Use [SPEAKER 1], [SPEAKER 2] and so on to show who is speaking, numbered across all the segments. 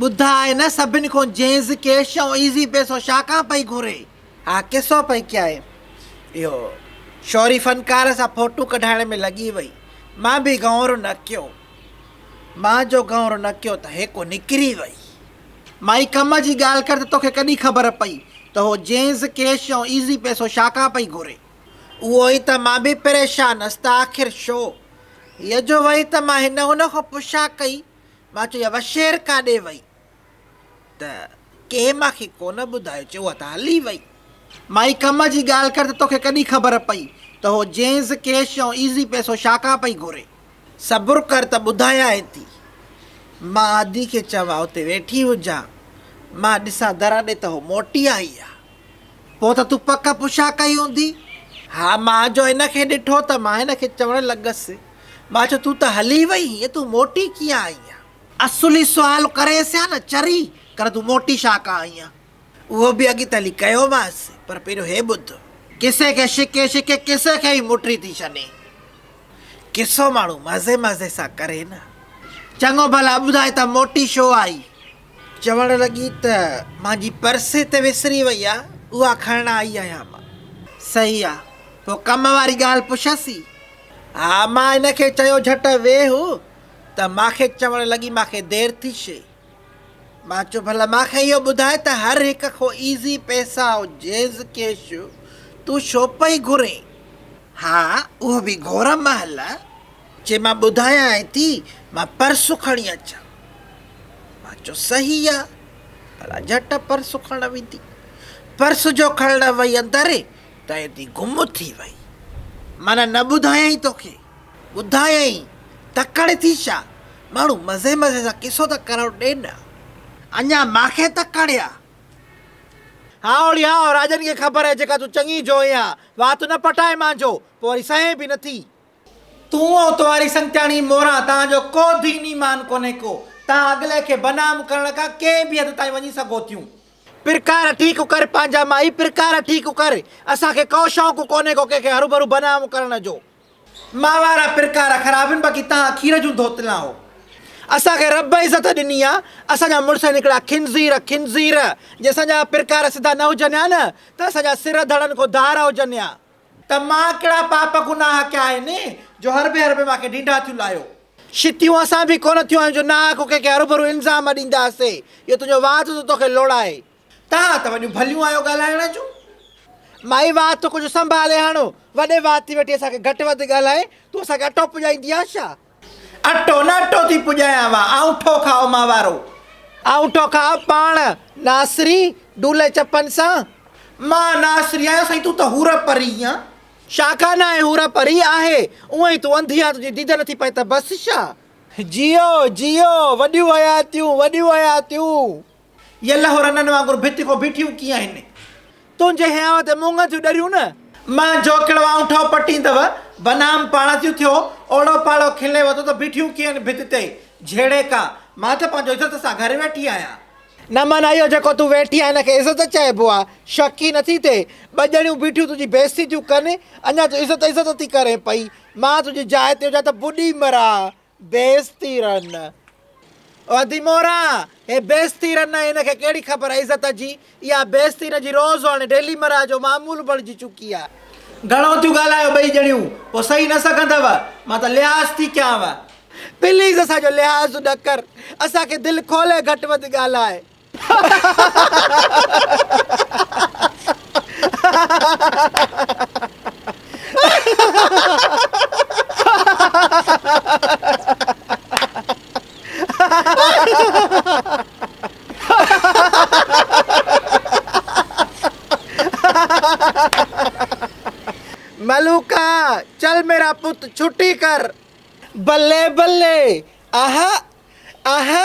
[SPEAKER 1] ٻڌا آهي نه سڀن کون جينز ڪيش ۽ ايزي پيسو شا کان پئي گهري. ها قصو پئي ڪيائين. اهو شوري فنڪار سان ڦوٽو ڪڍائڻ ۾ لڳي وئي. مان به گهونئرو نه ڪيو. مان جو گهونئرو نه ڪيو ته هيڪو نڪري وئي. مائي ڪم جي ڳالهه ڪر ته توکي ڪڏهن خبر پئي ته هو جينز ڪيش ۽ ايزي پيسو شا کان پئي گهري. اهو ئي ته مان به پريشان هيس ته آخر شو. هيء جو وئي ته مان هن هن کون پڇا ڪئي مان چيو، اها شير ڪاڏي وئي؟ ته ڪنهن مان کي ڪونه ٻڌايو، چيو، اها ته هلي وئي. مائي ڪم جي ڳالهه ڪر ته توکي ڪڏهن خبر پئي ته هو جينز ڪيش ۽ ايزي پئسو شاکان پئي گهري. صبر ڪر ته ٻڌايانء ٿي. مان آدي کي چوان اتي ويٺي هجان، مان ڏسان در ڏي ته هو موٽي آئي آ. پوء ته تون پڪ پڇا ڪئي هوندي. ها، مان جو هن کي ڏٺو ته مان هن کي چوڻ لڳس. مان چيو، تون ته هلي وئي هئين، تون موٽي ڪيئن آئي آهين؟ اصولي سوال ڪريس ها نه، چري ڪر تون موٽي ڇا ڪا آئي آهين؟ اهو به اڳي ته هلي ڪيومانس، پر پهريون هي ٻڌ، ڪسي کي شڪي شڪي ڪسي کي ئي موٽي ٿي ڇڏي؟ قصو ماڻهو مزي مزي سان ڪري نه، چڱو ڀلا ٻڌاء ته موٽي ڇو آئي؟ چوڻ لڳي ته مانجي پرس هتي وسري وئي آ، اها کڻڻ آئي آهيان مان. صحيح آ، پوء ڪم واري ڳالهه پڇيس ئي، ها مان هن کي چيو جهٽ ويهه ته مان کي چوڻ لڳي مان کي دير ٿي شي مان چيو ڀلا مان کي اهو ٻڌاء ته هر هڪ کان ايزي پئسا او جيز ڪيش تون شو پئي گهرين ها اهو به گهرم مهل جي مان ٻڌايانء ٿي مان پرس کڻي اچان مان چيو صحيح آ ڀلا جهٽ پرس کڻڻ ويندي پرس جو کڻڻ وئي اندر ته تي گم ٿي وئي، معنيٰ نه ٻڌايائين توکي، ٻڌايائين، تڪڙ ٿي ڇا، ماڻهو مزي مزي سان قصو ته ڪرڻ ڏي نه، اڃا مان کي تڪڙ آ. هائو ڙي هائو، راڄن کي خبر آهي جيڪا تون چڱي جوئي آ، وات نه پٽائي مان جو، پوء وري سهين به نٿي. تون ۽ توهاري سنگتياڻي موران توهان جو ڪو دين ايمان ڪونهي ڪو، توهان اڳلي کي بدنام ڪرڻ ڪا ڪنهن به حد تائين وڃي سگهو ٿيون، پرڪار ٺيڪ ڪر پنهنجا مائي پرڪار ٺيڪ ڪر اسان کي ڪو شوق ڪونهي ڪو ڪنهن کي هروڀرو بدنام ڪرڻ جو. ماء وارا پرڪار خراب هن باقي تهان کير جون ڌوتلان هو. اسان کي رب عزت ڏني آ اسان جا مڙس هن هڪڙا خنزير خنزير جي اسان جا پرڪار سڌا نه هجن ها نه ته اسان جا سر ڌڙن کون ڌار هجن ها. ته مان ڪهڙا پاپ گناهه ڪيا آهن، جو هربي هربي مان کي ڍينڍا ٿيون لايو. شتيون اسان به ڪونه ٿيون آهيون، جو ناحق ڪنهن کي هروڀرو الزام ڏينداسين، اهو تنهنجو وات ٿو توکي لوڙائي. توهان ته وڏيون ڀليون آهيو ڳالهائڻ جون. مائي وات ٿو ڪجهه سنڀالي هڻ، وڏي وات ٿي ويٺي اسان کي گهٽ وڌ ڳالهائي، تون اسان کي اٽو پڄائيندي آهين ڇا؟ اٽو نه اٽو ٿي پڄايان وا آئون ٺو کاء مان وارو. آئون ٺو کاء پاڻ ناسري ڊولي چپن سان. مان ناسري آهيان سائين تون ته حور پري آن. شا کان ناهي حور پري آهي اونء ئي تون انڌي آن تنهنجي ديد نٿي پئي ته بس شا. جيئو جيئو وڏيون حياتيون وڏيون حياتيون. يا لهو رنن وانگر ڀت کان بيٺيون ڪيئن آهن. تنهنجي هيانء تي مونگهن ٿيون ڏريون نه. مان جوکڙ وانء ٺهو پٽيندو، بنام پاڻ ٿيون ٿيو، اوڙو پاڙو کلي وڌو ته بيٺيون ڪيئن آهن ڀت تي، جهيڙي ڪا، مان ته پنهنجو عزت سان گهر ويٺي آهيان. نه من اهو جيڪو تون ويٺي آهين ان کي عزت چئبو آ، شڪ ئي نٿي ٿئي، ٻه ڄڻيون بيٺيون تنهنجي بيعزتي ٿيون ڪن، اڃا تون عزت عزت ٿي ڪرين پئي، مان تنهنجي جاء تي هجان ته ٻڏي مران. بيستي رن ادي مورا هي بيستي رن آهي هن کي ڪهڙي خبر آهي عزت جي اها بيستي هن جي روز هاڻي ڊيلي مرا جو معمول بڻجي چڪي آهي. گهڻو ٿيون ڳالهايو ٻئي ڄڻيون پوء سهي نه سگهندؤ مان ته لحاظ ٿي ڪيانو. پليز اسان جو لحاظ نه ڪر اسان کي دل کولي گهٽ وڌ ڳالهاء. ملوڪا، چل ميرا پت ڇٽي ڪر. بلي بلي، اهه اهه.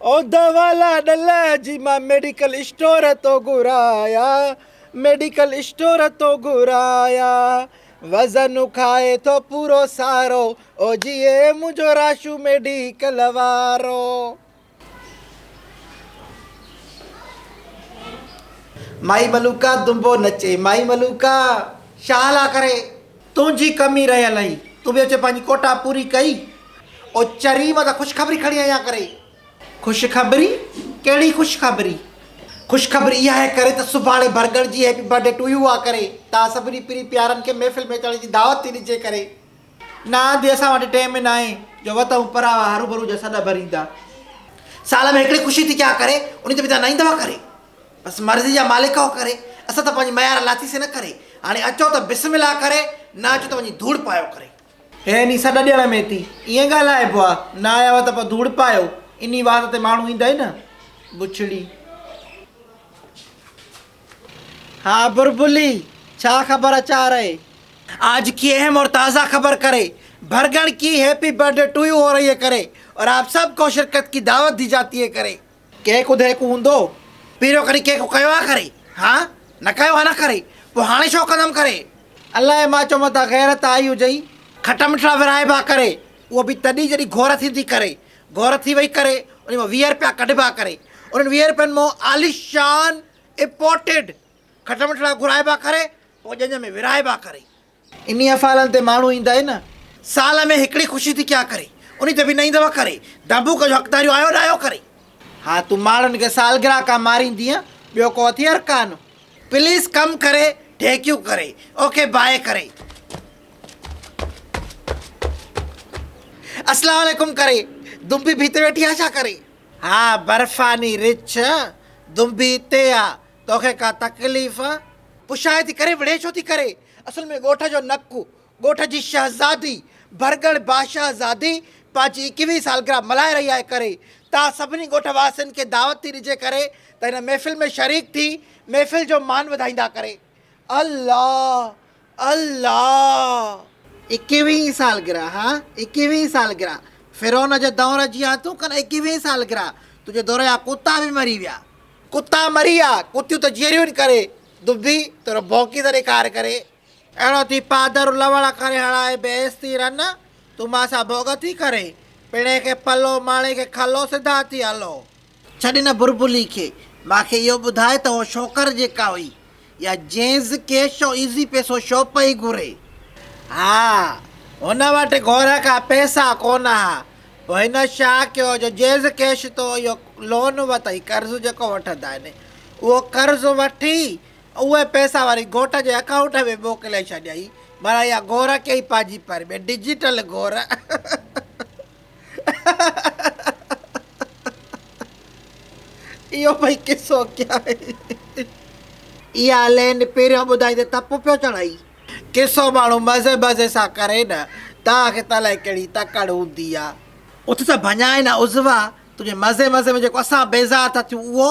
[SPEAKER 1] او دوا لاڏل جي مان ميڊيڪل اسٽور تون گهرايا ميڊيڪل اسٽور تون گهرايا وزن کائي ٿو پورو سارو او جي اي منهنجو راشو ميڊيڪل وارو مائي ملوڪا دنبو نچي مائي ملوڪا شالا ڪري تنهنجي ڪمي رهيل هئي. تون به اچي پنهنجي ڪوٽا پوري ڪئي. او چري مان ته خوشخبري کڻي آيان ڪري. خوشخبري؟ ڪهڙي خوشخبري؟ خوشخبري اها هي ڪري ته سڀاڻي ڀرڳڙ جي هيپي برٿڊي ٽو يو آ ڪري. توهان سڀني پرين پيارن کي محفل ۾ اچڻ جي دعوت ٿي ڏجي ڪري. نه آنڌي اسان وٽ ٽيم ئي ناهي جو وتهون پراوا هروڀرو جا سڏ ڀريندا. سال ۾ هڪڙي خوشي ٿي ڪيا ڪري انهي تي به توهان نه ايندوا ڪري. بس مرضي جا مالڪ آهو ڪري، اسان ته پنهنجي ميار لاٿي سين ڪري، هاڻي اچو ته بسم الله ڪري، نه اچو ته وڃي ڌوڙ پايو ڪري. هي ني سڏ ڏيڻ ۾ تي ائين ڳالهائبو آ، نه آيا هئا ته پوء ڌوڙ پايو، انهي وات تي ماڻهو ايندا ئي نه. بڇڙي. ها بربلي، ڇا خبر اچار اهي؟ آج ڪي اهم اور تازه خبر ڪري، ڀرڳڻ ڪي happy birthday to you هو رهي هي ڪري، اور آپ سب ڪو شرڪت ڪي دعوت دي جاتي هي ڪري. ڪنهن ڪو دهيڪو هوندو پهريون ڪڏهن ڪنهن ڪو ڪيو آ ڪري ها نه ڪيو آ نه ڪري پو هاڻي ڇو ڪندم ڪري الاء مان چو متان غيرت آئي هجئي کٽا مٺڙا ورهائبا ڪري اهو به تڏهن جڏهن گهور ٿيندي ڪري گهور ٿي وئي ڪري انهي مان ويهه رپيا ڪڍبا ڪري انهن ويهه رپين مان عاليشان امپورٽيڊ کٽا مٺڙا گهرائبا ڪري پو ڄڃ ۾ ورهائبا ڪري. انهي افعالن تي ماڻهو ايندا ئي نه. سال ۾ هڪڙي خوشي ٿي ڪيا ڪري. انهي تي به نه ايندؤ ڪري. ڊانبوڪ جو حقداريون آيو نه آيو ڪري. ها تون ماڻهن کي سالگرهه ڪا ماريندينء ٻيو ڪو هٿيار ڪانه. پليس ڪم ڪري ڍيڪيون ڪري. اوکي باهه ڪري. اسلام عليڪم ڪري. دنبي ڀيت ويٺي آ ڇا ڪري. ها برفاني رڇ دنبي تي آ. توکي ڪا تڪليف آ؟ پڇائي ٿي ڪري وڙهي ڇو ٿي ڪرين؟ اصل ۾ ڳوٺ جو نڪ، ڳوٺ جي شهزادي، ڀرڳڙ باشاه زادي پنهنجي اڪيهوين سالگرهه ملهائي رهي آهي ڪري تان سڀني ڳوٺ واسين کي دعوت ٿي ڏجي ڪري ته هن محفل ۾ شريڪ ٿي محفل جو مان وڌائيندا ڪري. الله! الله! ايڪيوهين سالگرهه ها ايڪيوهين سالگرهه فرعون جي دؤر جي ها تون ڪن ايڪيوهين سالگرهه تنهنجي دؤر جا ڪتا به مري ويا. ڪتا مري ويا ڪتيون ته جيئريون ڪري دبي تهڙو ڀونڪي ته ڏيکار ڪري. اهڙو ٿي پادر لوڙ ڪري هڻائي بيس ٿي رن تون مان سان ڀوڳ ٿي ڪرين پڻهين کي پلو ماڻي کي کلو سڌا ٿي هلو. ڇڏ هن بربلي کي. مان کي اهو ٻڌاء ته اهو شوڪر جيڪا هئي يا جينز ڪيش او ايزي پيسو شو پئي گهري. ها هن وٽ گهور کان پيسا ڪونه ها. پوء هن ڇا ڪيو جو جينز ڪيش تون اهو لون وتئي قرض جيڪو وٺندا آهن اهو قرض وٺي اهي پيسا وري گهوٽ جي اڪائونٽ ۾ موڪلي ڇڏيائين. معنيٰ اها گهور ڪيئي پنهنجي پر ۾ ڊجيٽل گهور. اهو ڀئي قصو ڪيا آهي. اها لين پهريون ٻڌائي ته تپ پيو چڙهئي. قصو ماڻهو مزي مزي سان ڪري نه توهان کي ته الائي ڪهڙي تڪڙ هوندي آ. اٿ ته ڀڃائي نه عضوا تنهنجي مزي مزي ۾ جيڪو اسان بيزار ٿا ٿيون اهو.